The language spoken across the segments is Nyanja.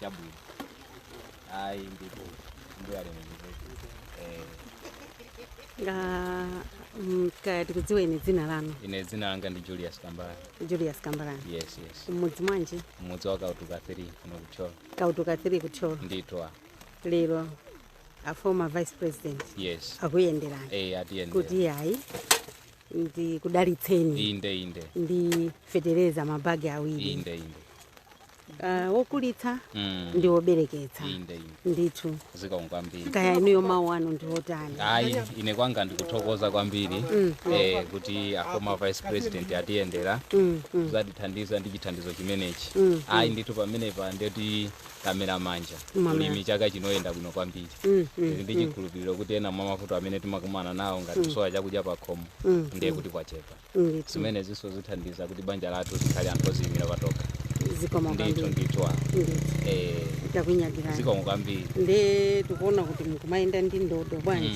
chabwino ayi ndipo mbuye alemekezeke eh, Ah, mm, kaya tikudziweni dzina lanu ine dzina langa ndi julius kambala julius kambalani yes yes mmudzi mwanji mmudzi wa kautuka 3 kuno ku Thyolo kautuka 3 ku Thyolo ndithu lero a former vice president yes akuyenderani eh atiyendera kuti ayi ndikudalitseni inde inde ndi fetereza mabagi awiri inde inde ah, wokulitsa Mm. ndi wobereketsa inde inde ndithu zikomo kwambiri kaya inuyo mawu anu ndi otani ayi ine kwanga ndikuthokoza kwambiri eh, kuti a former vice president atiyendera Mm, mm. kuzatithandiza ndi chithandizo chimenechi Mm, ayi ndithu pamenepa ndeti tamera manja Mamera. ulimi chaka chino uyenda bwino kwambiri Mm, mm, Tili ndi chikhulupiriro kuti ena mwa mavuto amene timakumana nawo ngati kusowa chakudya pakhomo Mm, ndiye kuti kwachepa ndithu zimenezinso zithandiza kuti banja lathu likhale anthu oziimira patokha zikomo ndithu kwambiri ndithu wa ndithu eh, takunyadirani zikomo kwambiri nde tikuona kuti mukumayenda ndi ndodo bwanji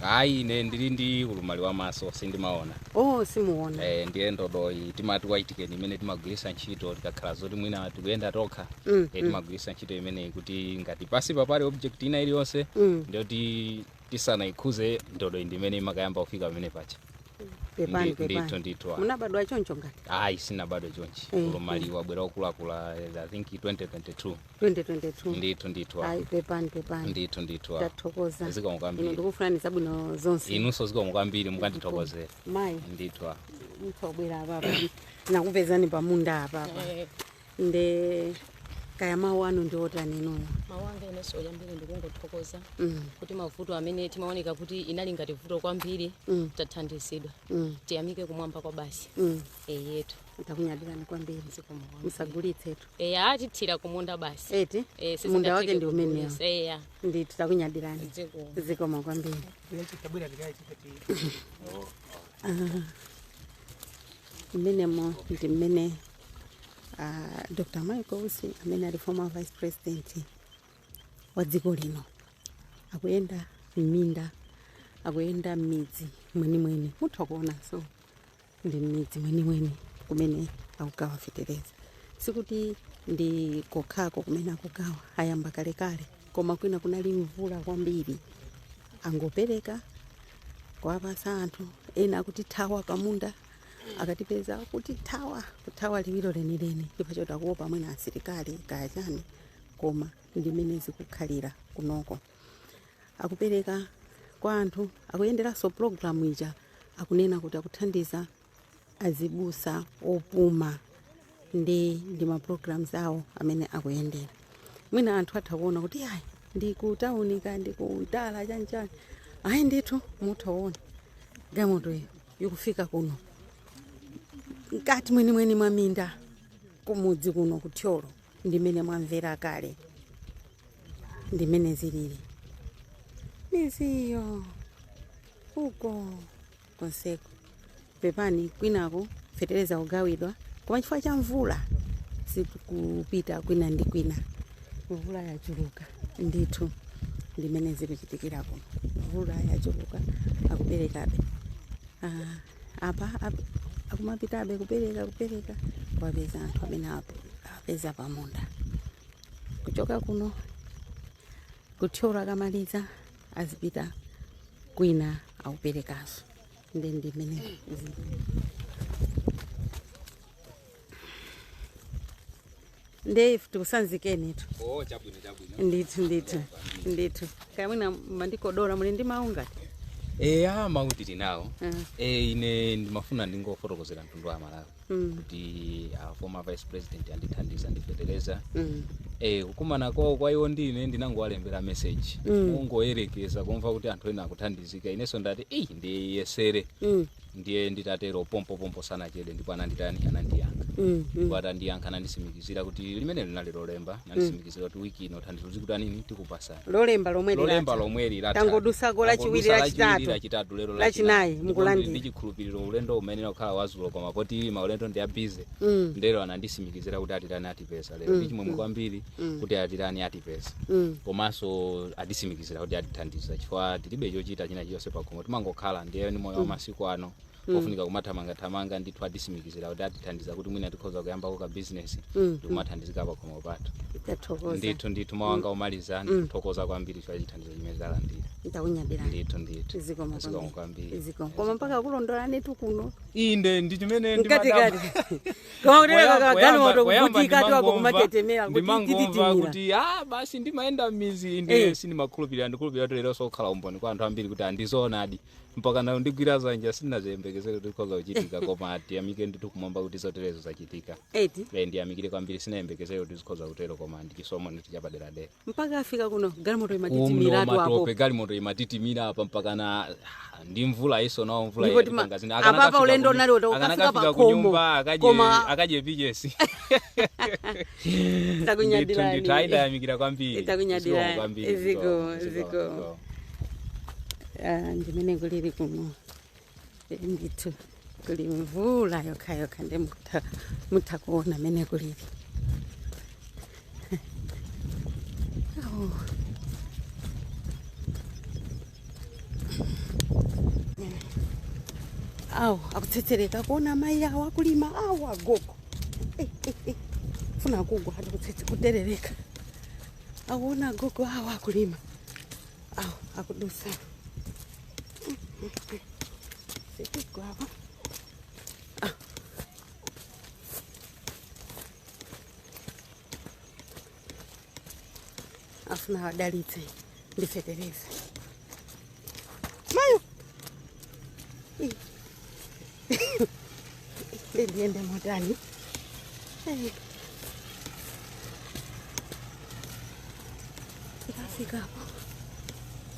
Mm, ayi ine ndili ndi ulumali wa maso sindimaona oh simuona eh, ndiye ndodoyi timati white cane imene timagwiritsa ntchito tikakhala zoti mwina tikuyenda tokha Mm, eh, timagwiritsa ntchito imeneyi kuti ngati pali object ina iliyonse mm. ndiye kuti tisanaikhudze ndodo indimene imakayamba kufika pamene pacha pepani Ndi- ndithu pepani ndithu ah. munabadwa choncho ngati ayi sinabadwe chonchi Eh, ulumali wabwera okulakula i think 2022 2022 ndithu ndithu ah. ayi pepani pepani ndithu ndithu ah. tathokoza zikomo inu kwambiri ndikufunirani zabwino zonse inunso zikomo kwambiri mukandithokozera mayi ndithu ah. ndabwera apapa nakupezani pamunda apapa nde kaya mawu anu ndi otani inuyo mawu anga inenso oyambiri ndikungothokoza Mm. kuti mavuto amene amaoneka kuti inali ngati vuto kwambiri Mm. tathandizidwa Mm. tiyamike kumwamba kwa basi Mm. eyetu takunyadirani kwambiri zikomo kwambiri. musagulitsetu eya mukathire kumunda basi eti Eh, munda sizingatheke wake ndi umenewo kugulitsa. eya ndithu takunyadirani ziko zikomo kwambiri Tabwera tikaichita ti. Mmenemo ndi mmene uh, Dr. Michael Usi amene ali former vice president wa dziko lino akuyenda m'minda akuyenda m'midzi mwenimweni mutha kuonanso ndi m'midzi mwenimweni kumene akugawa fetereza sikuti ndi kokhako kumene akugawa ayamba kalekale koma kwina kunali mvula kwambiri angopereka kuwapatsa anthu ena akutithawa pamunda akatipeza kutithawa kuthawa liwiro lenileni chifukwa choti akuopa mwina asilikali kaya chani koma ndi mmene zikukhalira kunoko akupereka kwa anthu akuyenderanso pulogalamu ija akunena kuti akuthandiza azibusa opuma ndi ndi ma programs awo amene akuyendera mwina anthu atha kuona kuti ayi ndi ku tauni ka ndi ku mtala chanchani ayi ndithu mutha kuona galimoto iyo ikufika kuno mkati mwenimweni mwa minda kumudzi kuno ku thyolo ndimene mwamvera kale ndimene zilili midziyo uko konseko. Pepani kwinako fetereza kugawidwa koma chifukwa cha mvula sikupita kwina ndi kwina. Mvula yachuluka ndithu ndimene zikuchitikira kuno. Mvula yachuluka akuperekabe. Ah, apa ap- akumapitabe kupereka kupereka kuwapeza anthu amene awape- awapeza pamunda kuchoka kuno ku thyolo akamaliza azipita kwina akuperekanso nde ndimene nde ife tikusanzikenitu oh chabwino chabwino ndithu ndithu ndithu kaya mwina mandikodola muli ndi mawu ngati eya mawu tinawo Ah. e ine ndimafuna ndingofotokozera mtundu wa malawi Mm. kuti a former vice president andithandiza ndi fetereza Mm. Eh, kukumana kwawo kwa iwo ndi ine ndinangowalembera message Mm. kungoyerekeza kumva kuti anthu ena akuthandizika inenso ndati eyi ndiyesere Mm. ndiye nditatero pompopompo sanachede ndipo ananditani anandiyankha Mm. Mm. ndipo atandiyankha anandisimikizira kuti limene linali lolemba anandisimikizira tiyembekezera kuti wiki ino thandizo zikutani nini tikupatsani lolemba lomwe lolemba lilata lomwe lilata tangodutsako lachiwiri lachitatu lachitatu lero lachinayi ndi mukulandira chikhulupiriro ulendo umayenera kukhala wazulo koma poti maulendo ndi a bize Mm, nde lero anandisimikizira kuti atilani atipeza lero Mm, ndi chimwemwe mm. kwambiri mm, kuti atilani atipeza mm. komanso atisimikizira kuti atithandiza chifukwa tilibe chochita china chilichonse pakhomo timangokhala ndiye ndi moyo wa masiku ano Mm. ofunika kumathamangathamanga ndithu atisimikizira kuti atithandiza kuti mwina tikhoza kuyambako ka bizinesi Mm. ndikumathandizika pakhomo pathu tathokoza ndithu ndithu mawanga omaliza ndikuthokoza kwambiri chifukwa chithandizo chimene ndalandira ndakunyadirani ndithu ndithu zikomo zikomo kwambiri zikomo koma mpaka kulondolani tu kuno inde ndi chimene mkatikati koma kuterera kagalimoto kuvutika tu apo kumatitimira kuti ndimangomva tititimira kuti ah basi ndi mayenda m'midzi inde Eh. sindimakhulupirira ndikhulupirira kuti lero tsokhala umboni kwa anthu ambiri kuti a ndi zoonadi mpaka nawo ndigwira dzanja sindinaziyembekezere kuti zikhoza kuchitika koma tiyamike ndithu kumwamba kuti zoterezo zachitika eti e, ndiyamikire kwambiri sindinayembekezere kuti zikhoza kutero koma ndi chisomo ndithu chapaderadera mpaka afika kuno galimoto umno imatitimiratu apo matope galimoto imatitimira apa mpaka na ndi mvula iyinso nawo mvula Ndipo tima- yatipanga zina. apapa Akanakafika ulendo ku- unali uta- ukafika akanakafika pa ku khomo, nyumba, akadye- koma- akadye pichesi ndithu takunyadirani ndithu ayidayamikira kwambiri Takunyadira. Zikomo kwambiri Ziko, zikomo, ziko. zikomo. Ah, ndimene kulili kuno Eh, ndithu kuli mvula yokha yokha ndi mutha mutha kuona mmene kulili Oh. awo akuterereka akuona amayi awo akulima awo agogo Eh, eh, eh. funa kugwa ati kutsetse kuterereka akuona agogo awo akulima awo akudutsa sipigwa apa afuna wadalitse ndi fetereza mayo Ih. ndiyende motani Eh. tikafikapo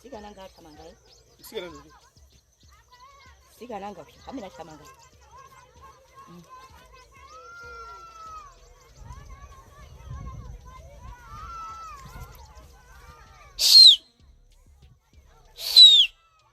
sikana nga athamanga eh? sikana ndi sikana nga phi amene athamanga Mm.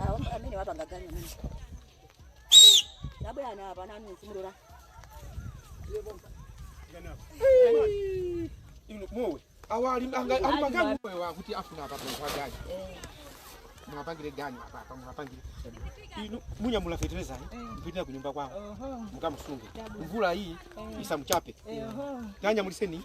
Ah, amene wapanga ganyu amene. Labwe ana apa nanu kumulora. Inu mowe. Awa ali anga ali magani mowe wa kuti afuna apa kwa gani. Mwapangire gani apa apa mwapangire. Inu munyamule feteleza eh. Mpite kunyumba kwao. Mukamsunge. Mvulayi isamuchape. Tanyamulitseni.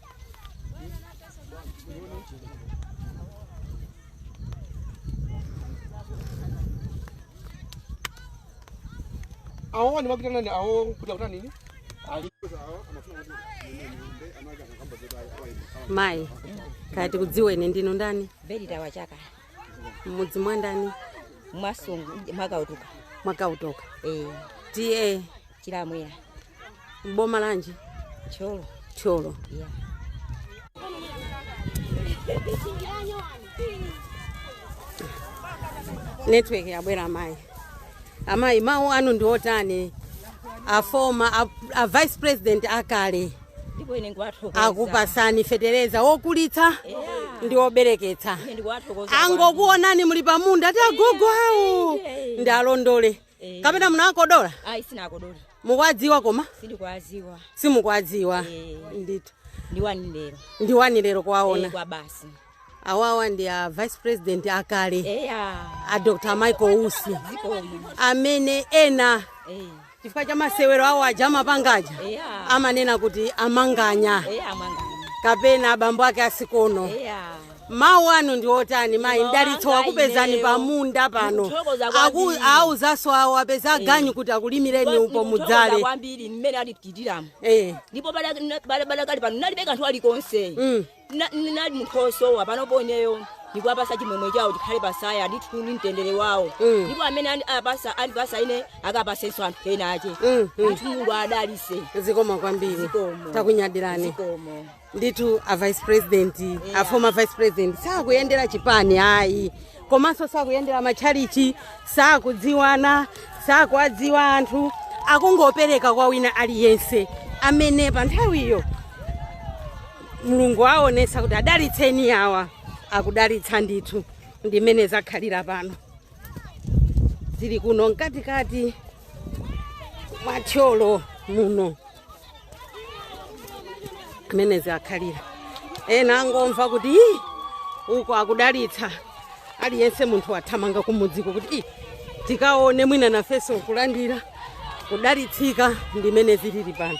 awo ni makita nani awo kuja kutana nini mayi kaye tikudziweni ndinu ndani bedi tawachaka mmudzi mwa ndani mwasungu mwakautuka mwakautoka eh tiye Chilamwera. M'boma lanji? Thyolo. Thyolo. Yeah. Network yabwera amayi. Amayi mawu anu ndi otani? A former a, a vice president akale Ndipo ine ndikuwathokoza. akupasani fetereza wokulitsa ndi wobereketsa. Ine ndikuwathokoza. angokuonani muli pamunda ati agogo awo ndiwalondole Eh, kapena munawakodola ayi sindinawakodole mukuwadziwa koma sindikuwadziwa simukuwadziwa Eh. ndithu ndi wani lero ndi wani lero Eh, kuwaona kwa basi awawa ndi a vice president akale eya a dr michael usi zikomo amene ena Eh, chifukwa cha masewero awo aja amapangaja eya amanena kuti a Manganya eya Manganya kapena abambo ake a Sikono eya mawu anu ndi otani mayi Mawu mdalitso anga wakupezani ineyo. pa munda pano Ndikuthokoza Aku- kwambiri. awuzanso awo apeza aganyu kuti akulimireni upo Ndikuthokoza mudzale kwambiri mmene alipitiriramu Eh, ndipo padakali pano nalibe kanthu kalikonse Mm. Na- n- nali munthu osowa panopo ineyo ndikuwapasa chimwemwe chawo chikhale patsaya ndithudi mtendere wawo Mm. ndipo amene ani- apasa andipasa ine akapasenso anthu ena ache Mm, mm. ndithu Mulungu adalitse zikomo kwambiri Zikomo. takunyadirani zikomo ndithu a vice president yeah. a former vice president sakuyendera chipani ayi komanso sakuyendera matchalichi sakudziwana sakuwadziwa anthu akungopereka kwa wina aliyense amene pa nthawiyo mulungu aonesa kuti adalitseni awa akudalitsa ndithu ndimene zakhalira pano zili kuno mkatikati mwa thyolo muno mmene zakhalira ena angomva kuti "Ih, uko akudalitsa aliyense munthu wathamanga kumudziko kuti "Ih, tikaone mwina nafenso nkulandira kudalitsika ndimene zilili pano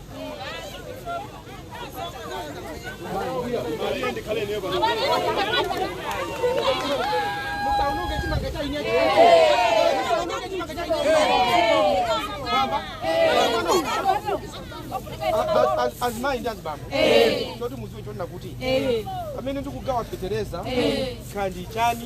azimayi ndi azibambo choti muziwe chonena kuti pamene ndikugawa fetereza kandi chani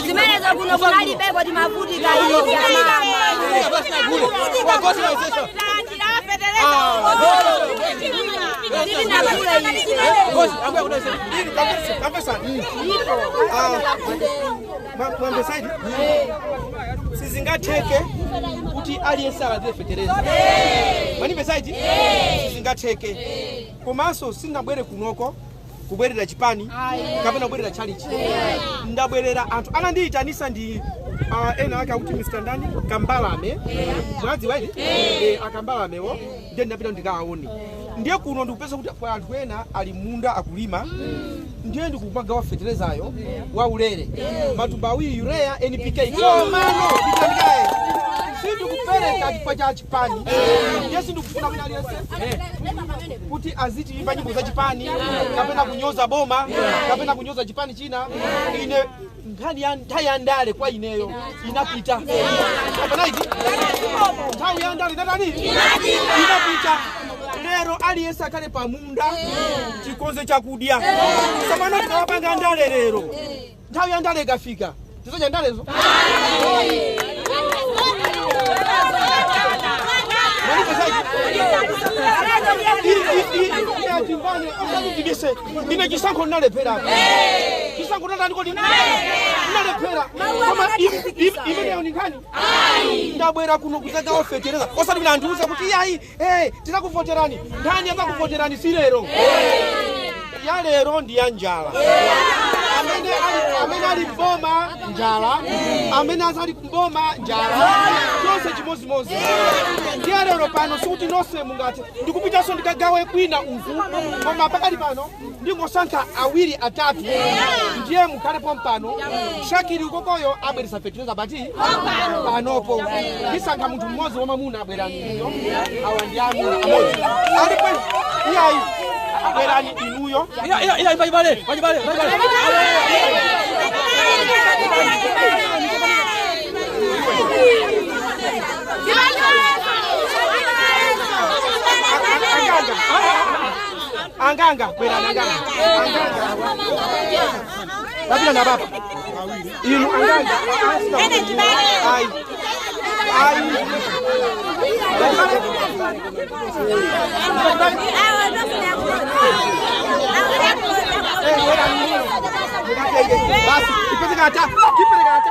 zimenezo kuno kunalibeko timavutika mwambesaidi sizingatheke kuti aliyense alandire fetereza manimbesaidi sizingatheke komanso sinabwere kunoko kubwerera chipani kapena kubwerera chalichi ndabwerera anthu anandiyitanisa ndi uh, ena ake akuti mr ndani kambalame mwadziwa eti Eh, akambalamewo ndiye ndinapita ndikawaone ndiye kuno ndikupeza kuti kwa anthu ena ali mmunda akulima ndiye ndikumagawa feterezayo wa ulere matumba awiri urea npk komano nditandikaye sindikupereka chifukwa cha chipani ndiye sindikufuna wina aliyense kuti azitiyimba nyimbo za chipani kapena kunyoza boma kapena kunyoza chipani china ine nkhani ya nthawi ya ndale kwa ineyo inapita kapena iti nthawi ya ndale inatani inapita lero aliyense akhale pamunda tikonze chakudya simana tikamapanga ndale lero Nthawi ya ndale ikafika, tizodya ndalezo. ine chisankho ndinalephera chisankho ndatani kodi ndinalephera koma imeneyo ni nkhani ndabwera kuno kuzagawa fetereza osati kuti andiuze kuti iyayi Hey, tinakuvoterani nkhani yakukuvoterani si lero ya lero ndi ya njala amene ali mboma njala amene azali mboma njala tonse chimodzimodzi ndiye lero pano sikuti nonse mungati ndikupitanso ndikagawe kwina uku koma pakali pano ndingosankha awiri atatu ndiye mukhale pompano shakiri ukokoyo abweretsa fetereza but panopo ndisankha munthu mmodzi wamamuna abwerani inuyo awa ndi amuna amodzi alipo iyayi abwerani inuyo Iya, iya, iya, pachibale, pachibale, pachibale. Aganga. anganga bwerani anganga tapita na baba inu anganga ayi ayi basi ipeze kata kipele kata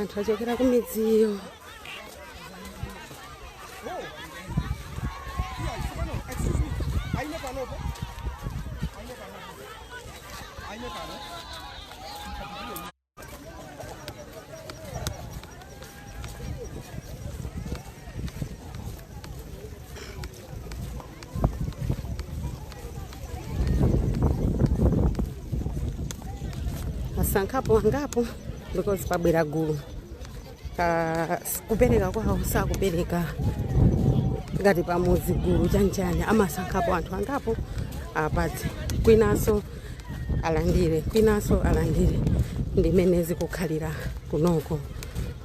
anthu achokera ku midziyo amasankhapo angapo because pabwera gulu Ka- kupereka kwawo sakupereka ngati pamudzi gulu chakuti amasankhapo anthu angapo apatse kwinanso alandire kwinanso alandire ndimene zikukhalira kunoko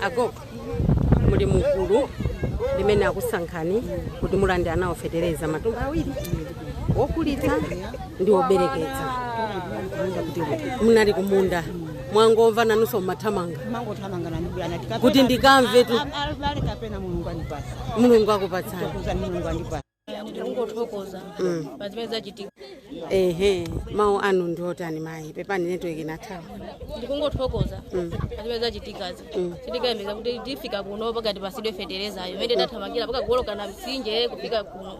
agogo muli mugulu limene akusankhani kuti mulandire nawo fetereza matumba awiri okulitsa ndi obereketsa munali kumunda mwangomva nanunso mmathamanga mangothamanga nani bwana anati kapena- Kuti ndikamvetu. A- a- abale kapena mulungu andipatsa mulungu akupatsani kuza mulungu andipatsa ndikungothokoza Mm. pazimene zachitika ehe mawu anu ndiotani mayi pepani network inathawa ndikungothokoza Mm. pazimene zachitikazi Mm. sitinkayembekeza kuti tifika kuno pakati tipatsidwe feterezayo imene tathamangira mpaka kuoloka mtsinje kufika kuno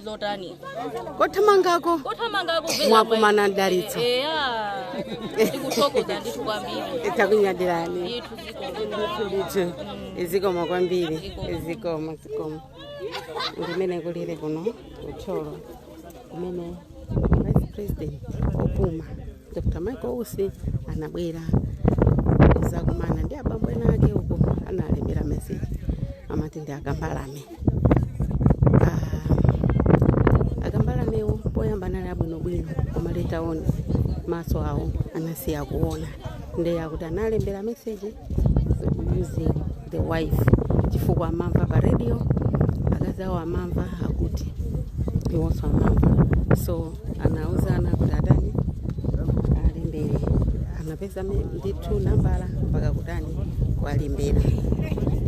zotani kothamangako kothamangako mwakumana ndi mdalitso eya ndikuthokoza ndithu kwambiri takunyadirani ndithu zikomo ndithu zikomo kwambiri zikomo zikomo ndimene kulili kuno ku Thyolo kumene vice president opuma dr michael usi anabwera kuzakumana ndi abambo ena ake uko analembera meseji amati ndi a Kambalame Ah, a Kambalamewo poyamba anali abwinobwino koma later on maso awo anasiya kuona ndiye akuti analembera meseji using the wife chifukwa amamva pa radio akazi awo amamva akuti iwonso amamva so anauza ana kuti atani alembere anapeza me- ndithu nambala mpaka kutani kuwalembera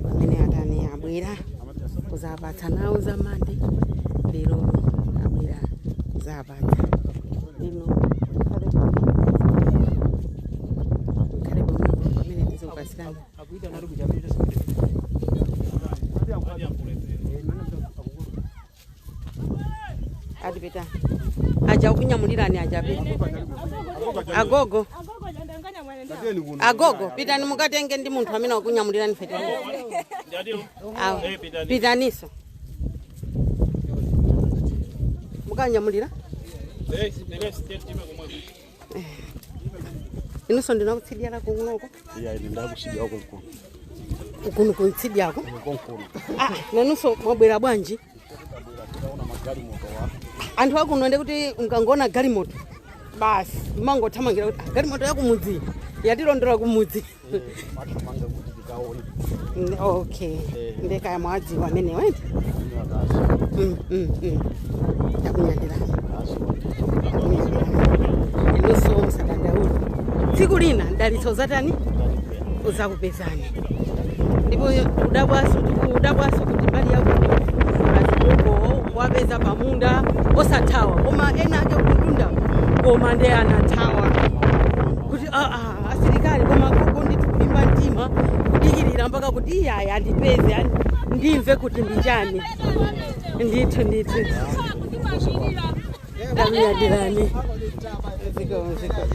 pamene atani abwera kuzawapatsa nawo za mande lero abwera kuzapa inu mukhale mukhale pamwepo pamene tizikupatsirani akuita nali kuja pita sikuti atipita aja akunyamulirani aja pita agogo agogo pitani mukatenge ndi munthu amene akunyamulirani feteleza awo pitaniso mukanyamulira inunso ndi wakutsidya la kunoko iya ine ndakusidyako konkuno ukunu kutsidyako konkuno Ah, nanunso mwabwera bwanji tikaona galimoto wa anthu akuno nde kuti mukangoona galimoto basi mmangothamangira kuti "Ah, galimoto yakumudzi yatilondola kumudzi timathamanga kuti tikaone Mm, okay Eh. nde kaya mwadziwa amene wena amene akazi Mm, mm, mm. takunyadira akazi takunyadira inunso musadandaule tsiku lina mdalitso uzatani ndalipera uzakupezani ndipo udabwaso udabwaso kuti mbali yako azikoko wapeza pamunda osathawa koma ena ake kumtunda koma nde anathawa kuti aa asilikali koma gogo ndithu kulimba mtima kudikirira mpaka kuti iyayi andipeze ndimve kuti ndi chani ndithu ndithu ndakunyadirani zikomo zikomo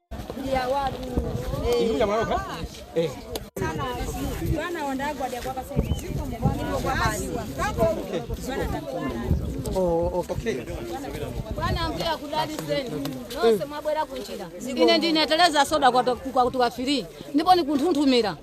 bwana mbuya kudali zenu nonse mwabwera kunjira ine ndine Tereza Soda kwa kwa kutuwa fili ndipo ndikunthunthumira